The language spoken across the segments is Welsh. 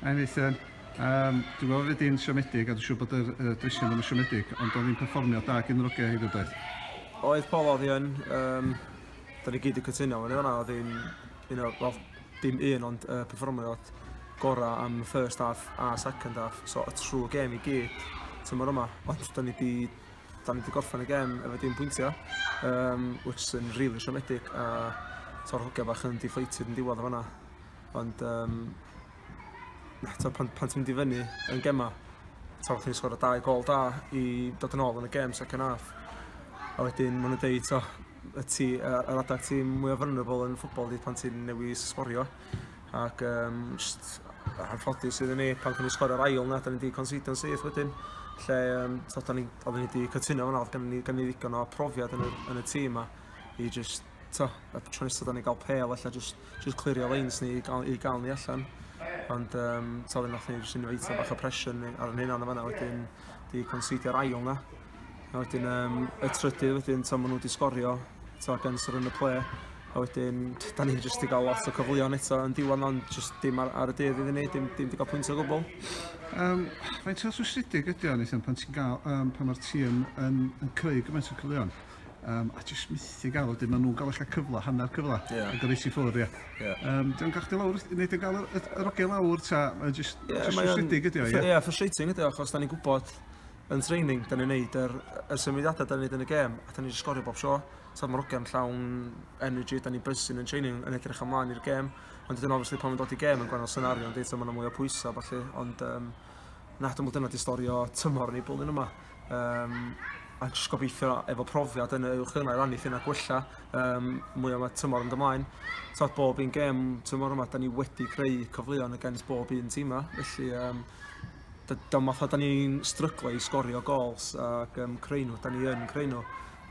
Hi Nathan. Um, dwi'n gweld fod di'n siomedig a dwi'n siŵr bod yr uh, drisiau ddim yn siomedig, ond oedd hi'n perfformio da gyn yr ogau hefyd oedd? Oedd Paul oedd hi'n, um, da ni gyd yn cytuno, ond yna oedd hi'n, you know, well, dim un ond uh, perfformio gorau am y first half a second half, so y trwy gem i gyd tymor yma, ond da ni di da ni wedi gorffen y gem efo dim pwyntiau, um, which yn rili really siomedig, a to'r hogia bach yn deflated yn diwedd o fanna. Ond um, eto, pan, pan ti'n mynd i fyny yn gemau, taw chi'n sgwrdd o dau gol da i dod yn ôl yn y gem second half. A wedyn maen nhw'n deud, to, y ti, yr adag ti mwy o vulnerable yn ffwbol di pan ti'n newis sgorio. Ac um, just, anffodus sydd yn ei pan cynnig sgor yr ail na, da ni wedi considio yn syth wedyn lle um, so, da ni, oedden ni wedi cytuno fan oedd gen i, gen i ddigon o profiad yn y, yn y tîm yma i just t'o' y tro nesa' 'dan ni ga'l pêl ella jyst jyst clirio leins ni i ga'l i ga'l ni allan ond yym t'o' fe nath ni jyst inveitio chydig bach o pressure ni ar 'yn hunan yn fan 'na wedyn 'di considio'r ail 'na. A wedyn yym y trydydd wedyn t'o' ma' nw 'di sgorio t'o' gan sort of yn y ple a wedyn t- 'dan ni jyst 'di ga'l lot o cyfleon eto yn diwan ond jyst dim ar ar y dydd iddyn ni dim dim 'di ga'l pwynt o gwbwl. Yym faint o rhwystredig ydi o Nathan pan ti'n ga'l yym pan ma'r tîm yn yn creu gymaint o cyfleon? Um, a jyst mythu gael, wedyn maen nhw'n gael eich cyfle, hanner cyfle, yeah. ac yn reis i ffwrdd, ie. Yeah. Um, Dwi'n gael chdi lawr, neu dwi'n gael yr ogel lawr, ta, mae'n jyst yeah, frustrating ydi o, ie? Ie, frustrating ydi o, achos da ni'n gwybod yn training, da ni'n neud yr, y symudiadau da ni'n neud yn y gêm, a da ni'n sgorio bob sio. So mae'r ogem llawn energy, da ni'n bysyn yn training, yn edrych ymlaen i'r gêm. Ond dydyn obviously pan mae'n dod i gêm yn gwahanol senario, ond eto mae'n mwy o pwysau, falle. Ond um, na, dwi'n meddwl dyna di stori o tymor ni bwlyn yma. um, a jyst gobeithio efo profiad yn y uwch yna i rannu ffyn a gwella um, mwy o tymor yn dymlaen. Tod bob un gem tymor yma, da ni wedi creu cyfleon y gens bob un tîm yma, felly um, dyma math o da ni'n stryglo i sgorio gols ac um, creu nhw, da ni yn creu nhw,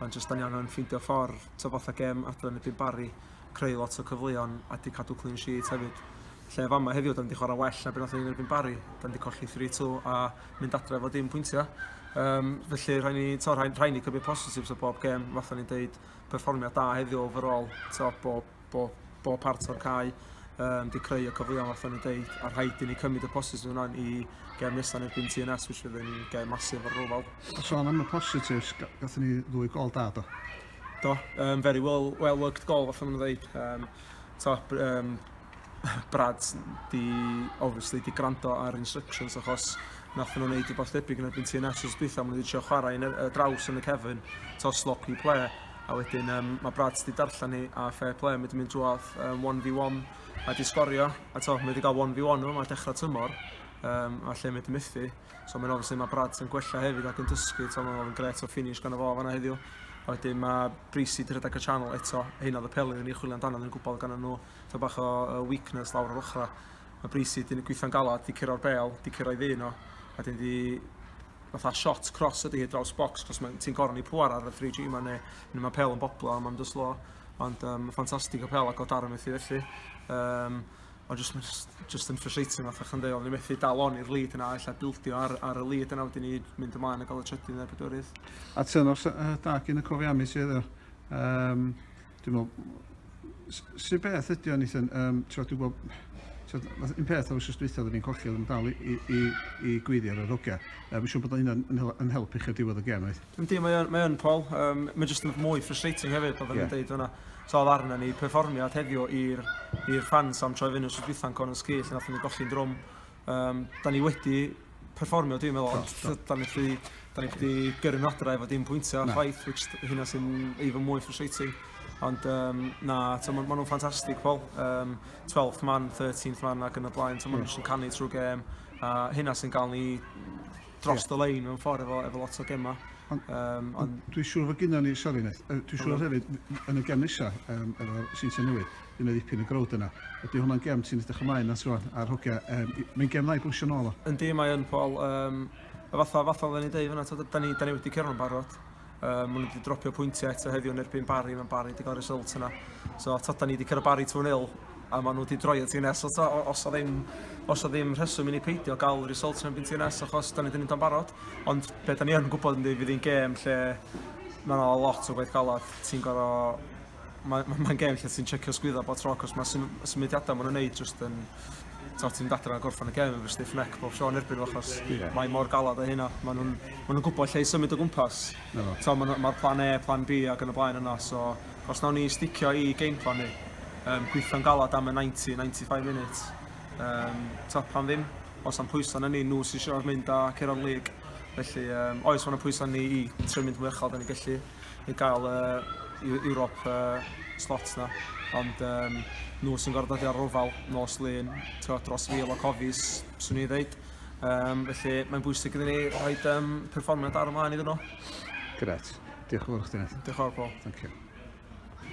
ond jyst da ni angen ffeindio ffordd, to fatha gem adran y byd bari, creu lot o cyfleon a di cadw clean sheet hefyd. Lle fama heddiw, da ni wedi chwarae well na beth oedd ni'n erbyn bari, da ni wedi colli 3-2 a mynd adre efo dim pwyntiau. Um, felly rhaid ni, to, rhaid, rhaid ni cymryd positives o bob gem, falle ni'n deud perfformiad da heddiw overall, to, bo, bo, bo part o'r cae um, di creu y cyfleon falle ni'n deud, a rhaid i ni cymryd y positives yna i gem nesaf neu byn TNS, which fydd yn gem masif ar rofal. A sôn am y positives, gatho ni ddwy gol da do? Do, um, very well, well worked gol, falle ni'n dweud. Um, top um, Brad di obviously di grando ar instructions achos nath nhw'n neud rhywbeth debyg yn erbyn ti yn Nationals dwytha, maen nhw wedi trio chwarae yn y draws yn y cefn, to sloppy play, a wedyn um, mae Brad wedi darllen ni a fair play, mae wedi mynd drwodd um, 1v1 a di sgorio, a to, mae wedi cael 1v1 yma, dechrau tymor, um, a lle mae wedi methu. So mae'n obviously mae Brad yn gwella hefyd ac yn dysgu, so mae'n ofyn gret o finish gan y fo fanna heddiw. A wedyn mae Brisi di rhedeg y channel eto, hyn oedd y peli yn ei chwilio amdano, yn gwybod gan nhw, to bach o uh, weakness lawr o'r ochrau. Mae Brisi di gweithio'n galad, di cyrra'r bel, di cyrra'i ddyn o, a wedyn di fatha shot cross ydy hi draws box, cos mae ti'n gorau ni pwar ar y 3G yma, neu, neu mae pel yn boblo, a mae'n dyslo, ond um, ffantastig o pel ac o darn felly felly. Um, Ond jyst ma' jyst jyst yn frustrating fatha chi'n deud o'n ni methu dal on i'r lead yna ella bildio ar ar y lead yna wedyn i mynd ymlaen a ga'l y trydydd ne' pedwerydd. A turn off sy- yy da gin y Cofiamis ti heddiw. Yym dwi me'wl s- su' beth ydi o Nathan yym t'wod dwi gwel' t'wod fath- un peth o wsos dwytha odden ni'n colli odden ni'n dal i i i i gweiddi ar yr hogia. Yy ma' siŵr bod o hynna'n yn hel- yn help i chi ar diwedd y gêm reit? Yndi, mae yn, mae yn Paul. Um, mae jyst yn mwy frustrating hefyd, fel yeah. yn dweud hwnna. So, oedd arna ni perfformiad heddiw i'r ffans am troi fyny os ydwytha'n con yn sgith, nath ni golli'n drwm. Um, da ni wedi perfformio, dwi'n meddwl, ond da ni wedi, da ni wedi gyrru nodra efo dim pwyntio, no. chwaith, which hynna sy'n even mwy frustrating. Ond um, na, so, maen ma nhw'n ffantastig, Paul. Um, 12th man, 13th man ac yn y blaen, so, maen nhw'n yeah. canu trwy gêm. A hynna sy'n gael ni dros y lein mewn ffordd efo, efo lot o gemau. Ond um, on... dwi'n siŵr fod gyda ni, sori Neth, dwi'n siŵr hefyd yn y gem nesaf um, efo Sintia Newydd, dwi'n meddwl ddipyn y growd yna. Ydy hwnna'n gem ti'n edrych ymlaen at rwan a'r hogia, um, mae'n gem dda i bwysio nôl o. Yndi, mae yn Paul. Um, fatha, fatha oedden ni dweud fyna, da ni, da ni wedi cerdded barod. Um, maen nhw wedi dropio pwyntiau eto heddiw yn erbyn Barry, mae'n Barry wedi cael result yna. So, ta da ni wedi cyrraedd Barry 2-0, a maen nhw wedi droi o TNS. So, ta, os o ddim, os o ddim rheswm i ni peidio gael result yn erbyn TNS, achos da ni wedi mynd o'n barod. Ond be da ni yn gwybod yn dweud fydd hi'n gêm lle mae yna lot o gwaith galad. Ti'n gorau Mae ma, ma gêm lle ti'n checio sgwydda bob tro cos mae sym, symudiadau maen nhw'n neud jyst yn... Ti'n mynd adre a gorffan y gêm yn fy stiff neck bob tro yn erbyn nhw achos yeah. mae mor galad o hynna. Maen nhw'n ma nhw gwybod lle i symud o gwmpas. No. So, Mae'r ma plan A, plan B ac yn y blaen yna. So, os nawn ni sticio i game plan ni, um, gweithio'n galad am y 90-95 minutes, um, to, pan ddim, os am pwyso na ni, nhw sy'n siarad mynd a Ceron League. Felly, um, oes, mae'n pwyso ni i trio mynd mwy uchel, da ni'n gallu. i gael y Europe uh, slot na. Ond um, nhw sy'n gorfod dod i'r rofal nos lun, dros fil o cofis, swn i'n dweud. Um, felly mae'n bwysig iddyn ni rhoi um, perfformiad ar ymlaen iddyn nhw. Gret. Diolch yn fawr chdi, Neth. Diolch yn fawr, Paul. Thank you.